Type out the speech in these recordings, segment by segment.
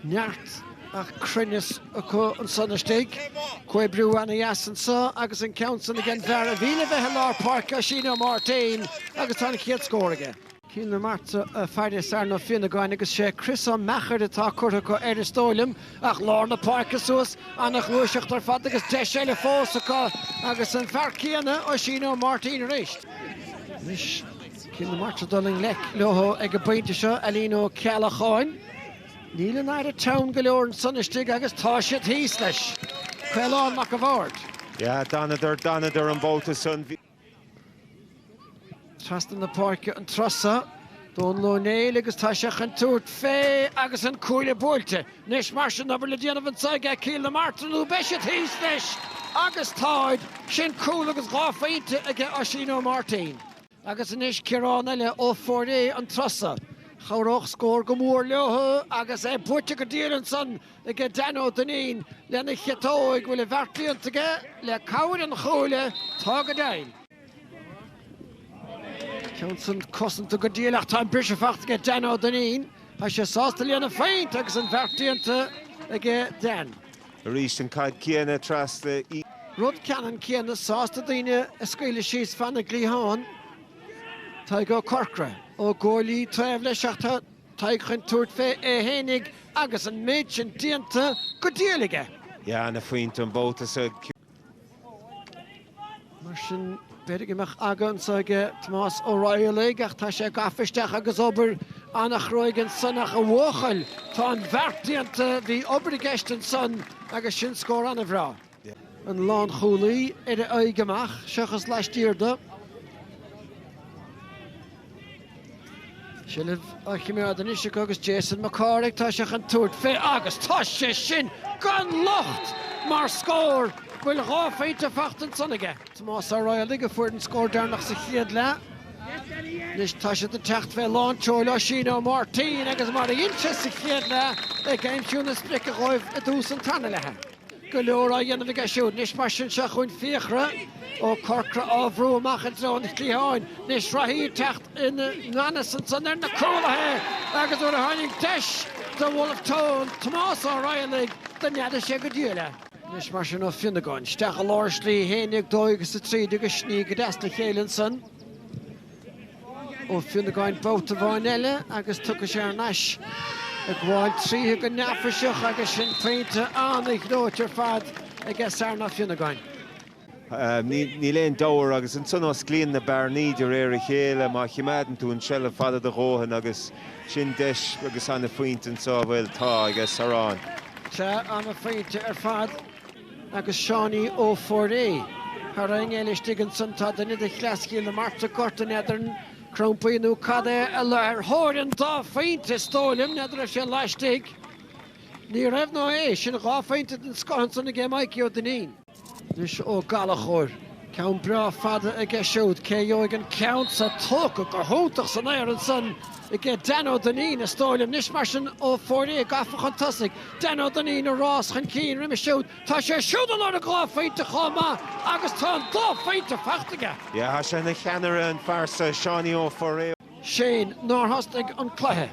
neart ach cruinneas acu ansan istigh. Comhoibriú ana dheas anso agus an ceann san ag an bhfear a bhí le bheith i lár páirce, Oisín Ó Máirtín agus tá an chéad scór aige. Cill na Martra ag faire Sárán Ó Fionnagáin agus sé Chris Ó Meachair atá curtha acu air is dóigh liom. Ach lár na páirce suas, ana ghluaiseacht ar fad agus deis eile fós acu agus an fear céanna, Oisín Ó Máirtín arís. Anois Cill na Martra dul i ngleic leo ag an bpointe seo, Alan Ó Ceallacháin. Níl an aire teann go leor ansan istigh agus tá siad thíos leis. Caolán Mac a' Bhaird. Yeah, d'fhanadar an babhta san. Trasna na páirce an turas so, Dónal Ó Néill agus tá sé chun tabhairt fé agus an cuaille buailte. Anois mar sin, an-obair le déanamh anso aige Cill na Martra nó beidh siad thíos leis? Agus táid! Sin cúl agus dhá phointe aige Oisín Ó Máirtín. Agus anois Ciarán eile Ó Fóirréidh an turas so. Chabhródh scór go mór leo agus é buailte go diail ansan aige Dan Ó Duinnín lena chiotóg. Bhfuil an bheart déanta aige le cabhair an chuaille. Tá go deimhin. Ceann san cosanta go diail ach tá an briseadh faighte aige Dan Ó Duinnín. Tá sé sásta lena phointe agus an bheart déanta aige Dan. Arís an caid céanna trasna. Rud ceannann céanna sásta daoine a scaoileadh síos fan na gcliathán. Tadhg Ó Corcra. Ó Goillidhe taobh leis ach tá Tadhg chun tabhairt fé é fhéinig agus an méid sin déanta go diail aige. Yeah, ina phointe an babhta so. Mar sin, b'fhéidir go mbeadh aga anso aige Tomás Ó Raghallaigh ach tá sé gafa isteach agus obair an-chruaidh ansan ach a bhuachaill, tá an bheart déanta, bhí obair i gceist ansan agus sin scór an-bhreá. An lánchúlaí ar a aghaidh amach, seachas laistiar de. Seilbh á chimeád anois acu agus Jason Mac Cárthaigh tá sé chun tabhairt fé agus tá sé sin gan locht mar scór! Bhfuil dhá phointe faighte ansan aige? Tomás Ó Raghallaigh a fuair an scór deireanach sa chéad leath. Anois tá siad ag teacht fé lán tseoil, Oisín Ó Máirtín agus mar a dhein sé sa chéad leath ag aimsiú na sprice dhóibh i dtús an tarna leatha. Go leor á dhéanamh aige siúd. Anois mar sin seo chugainn Fiachra Ó Corcra á bhrú amach i dtreo an chliatháin. Anois reathaí ag teacht i nganfhios ansan ar na cúlaithe agus nuair a tháinig deis do Bhulf Tón Tomás Ó Raghallaigh do neadaigh sé go diail é. Anois mar sin Ó Fionnagáin isteach i lár slí fhéin ag dóigh sa tríd agus sní go deas le chéile ansan. Ó Fionnagáin babhta amháin eile agus tugtha sé thar n-ais. Ag gabháil tríothu go neafaiseach agus sin pointe an-ghleoite ar fad aige Sarán Ó Fionnagáin. Níl aon deabhadh agus ansan osclaíonn na bearnaí de réir a chéile má chimeádann tú an tseilbh fada do dhóthain agus sin deis agus an-phointe anso. Bhuel tá, aige Sarán. Sea, an-phointe ar fad. agus Seánie Ó Fóirréidh. Thar éinne eile istigh ansan tá duine de chleas Chill na Martra, gorta, n'fheadar an crampaí nó cad é, a luigh ar thóir an dá phointe, is dóigh liom, n'fheadar raibh sé laistigh? Ní raibh ná é. Sin dhá phointe den scoth ansan aige Mikey Ó Duinnín. Anois Ó Gallachóir. Ceann breá fada aige siúd. Cé a gheobhaidh an ceann seo? Tógtha go hiontach san aer ansan aige Dan Ó Duinnín, is dóigh liom. Anois mar sin Ó Fóirréidh gafa chun tosaigh. Dan Ó Duinnín ag rás chun cinn roimhe siúd. Tá sé siúd ag lorg dhá phointe chomh maith agus tá an dá phointe faighte aige. Yeah, tá sé ina cheannaire, an fear seo, Seánie Ó Fóirréidh. Shane nár thosnaigh an cluiche.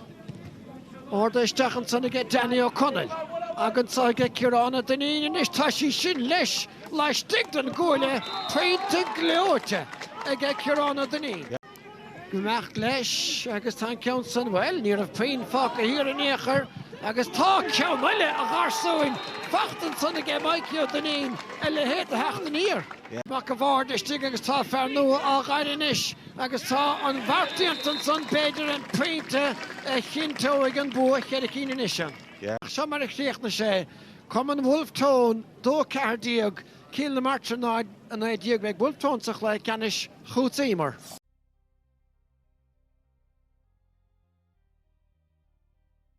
Arda isteach ansan aige Danny Ó Conaill. Ag anso aige Ciarán Ó Duinnín anois tá sí sin leis laistigh den gcuaille. Pointe gleoite aige Ciarán Ó Duinnín. Ag imeacht leis agus tá an ceann san, bhuel, ní raibh puinn fágtha thiar in aon chor agus tá ceann eile a gharsúin faighte ansan aige Mikey Ó Duinnín. A leithéid de theacht aniar. Mac a' Bhaird istigh agus tá fear nua á ghairm anois. Agus tá an bheart déanta ansan, b'fhéidir an pointe a chinnteoidh an bua cheithre cinn anois. Sea, seo mar a chríochnaigh sé, Cumann Wolfe Tone 2 14, Cill na Martra 0, 19. Beidh Wolfe Tone sa chluiche ceannais chugatsa Emer.